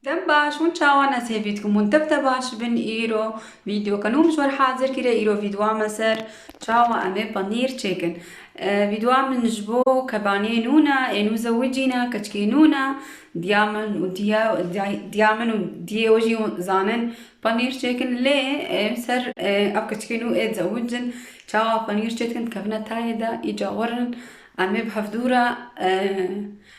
Dem baş hûn çawan ez hêvî dikim hûn tev te baş bin îro vîdyoke nû min ji wer hazir kiriye îro vîdyoa me ser çawa em ê panîr çêkin vîdyoa min ji bo kebaniyê nû ne ê nû zewicî ne keçikê nû ne diya min û diya diya min û diyê we jî zanin panîr çêkin lê em ser ev keçikê nû ê zewicin çawa panîr çêdikin dikevine tayê de îca werin em ê bi hevdû re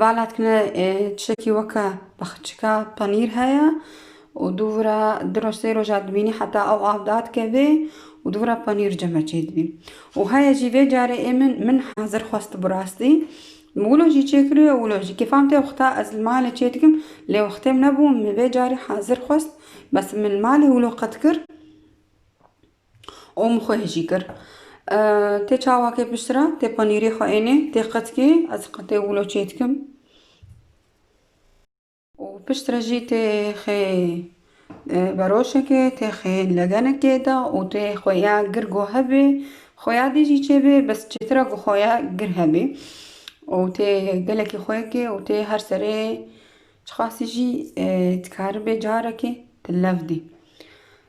Velatkine tiştekî weke baxçika penîr heye û dû vira du roj sê roja dibînî heta ew av dadikevê û dû vira penîr ceme çêdibî. Û heye jî vê carê ê min min hezir xwest bi rastî. Wilo jî çêkiriyo wilo jî. Kêfam tê wexta ez li malê çêdikim lê wextê min nebû min vê carî hezir xwest bes min li malê wilo qet kir. û min xwe hêjî kir. Tê çawakê piştre, tê panîrê xwe ênê, tê qetkê, ez qetê wilo çê dikim. Û piştre jî tê xê beroşekê, tê xê legenekê de û tê xuya gir ku hebê, xuya dê jî çêbê bes çêtir e ku xuya gir hebê. Û tê gelekî xuyekê û tê her serê çiqasî jî dikaribê carekê di lev dê.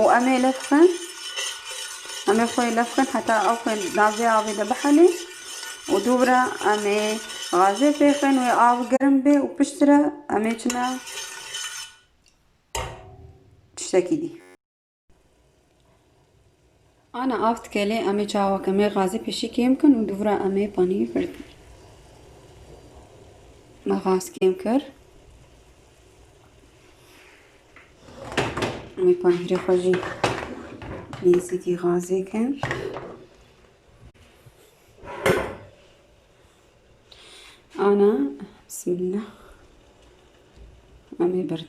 û em ê lef xin em ê xwe lef xin heta ew xwe navê avê de bihelê û dûvira em ê gazê pê xin wê av gerim bê û piştre em ê çina tiştekî dî Ana av dikelê em ê çawek em ê gazê pêşî kêm bikin û dûvira em ê panî birdin. Me gaz kêm kir. Em ê panîrê xwe jî nêzîkî gazê kin. Ana bismillah. Em ê birdin.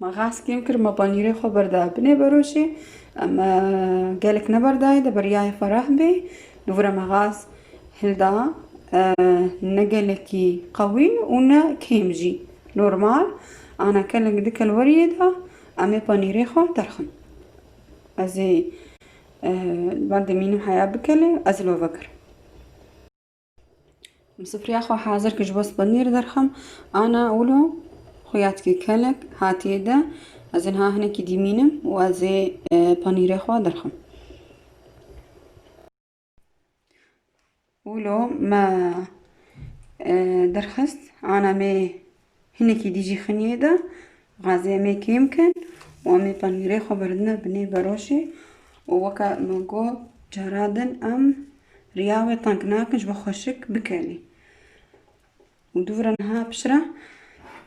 Ma xas kêm kir ma panîrê xwe berda binê beroşê em gelek neberdayê de beryayê xwe reh bê li vir me xas hilda ne gelekî qewî û ne kêm jî normal ana kelek di kelweriyê de em ê panîrê xwe derxin ez ê ba demînim heya bikele ez love kir. Sifriya xwe hazir kir ji bo spanîr derxim. Ana wilo xuyatkî kelek hatiye de ez ê niha hinekî dîmînim û ez ê e, panîrê xwe derxim. Wilo me e, derxist ana me Hinekî dî jî xiniyê da razê em ê kêm bikin û em ê panîrê xwe birdine binê berojê û weke min got cara din em riya wê teng nakin ji bo xweşik bikelî û dûvira niha piştre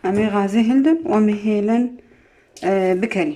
em ê razê hildin û em ê hêlin bikelî.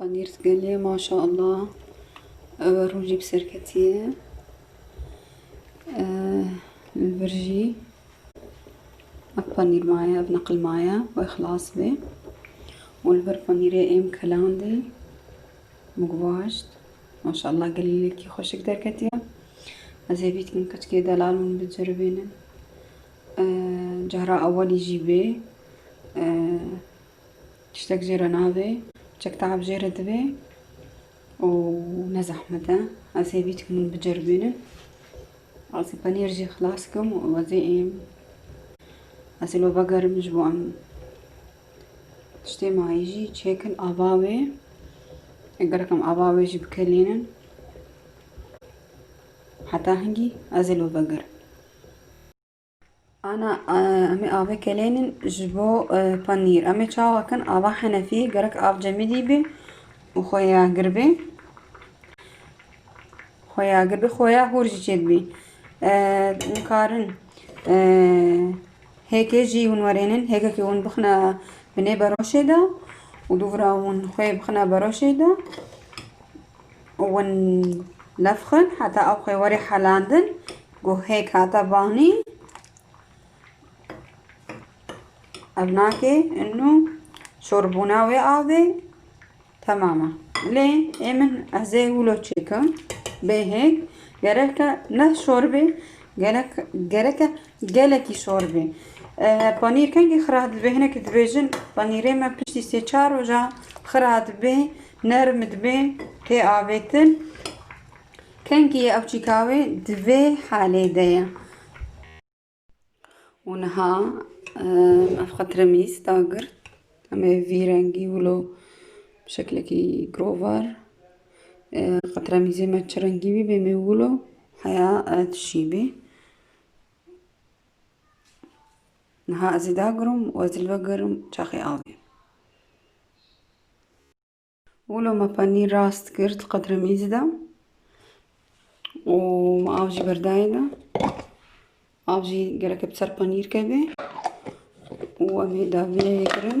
Panîrs gelê maşa Allah ewe rû jî bi serketî ye li vir jî ev panîr maye ev neqil maye wê xilas bê û li vir panîrê êm kelandî mugvaşt maşa Allah gelêlekî xweşik derketiye ez ê bîtikim keçikê delal min biceribînin cara ewelî jî bê Tiştek jê re nabê, çek te'ab jê re dibe û ne zehmet e. Ez hêvî dikim hûn biceribînin. Ez ê penîr jî xilas dikim û wezê êm. Ez ê lo vegerim ji bo em tiştê mayî jî çêkin ava wê. Gelek em ava wê jî bikelînin. Heta hingî ez ê lo vegerim. Ana, em ê avê kelênîn ji bo panîr. Em ê çawa kin? Ava Henefî gerek av cemidî bê û xoya gir bê. Xoya gir bê, xoya hûr jî çêdibî. Nikarin hêkê jî hûn werênin, hêkekê hûn bixine binê beroşê de û dûvira hûn xê bixine beroşê de û hûn lefxin heta ew xê werê helandin. Guhek hata banî. Ev nake inu çorbûna wê avê temama. Lê ê min ez ê wilo çêkim. Bêhêk gereke ne çorbê gerek gereke gelekî çorbê. Panîr kengî xira dibe hinekî dibêjin panîrê me piştî sê çar roja xira dibe nerm dibe tê avêtin. Kengî ew çîka wê di vê halê de ye. Û niha ev xwe tiremîz da girt. Em ê vî rengî wilo bi şeklekî girovar tiremîzê me çi rengî bî bê me wilo heya tişî bî. Niha ez ê dagirim û ez li ve girim çaxê avê. Wilo me penîr rast kir di qedremîzî de û me av jî berdayê de. Av jî gelekê bi ser penîr kevê û em ê daviyeyê kirin.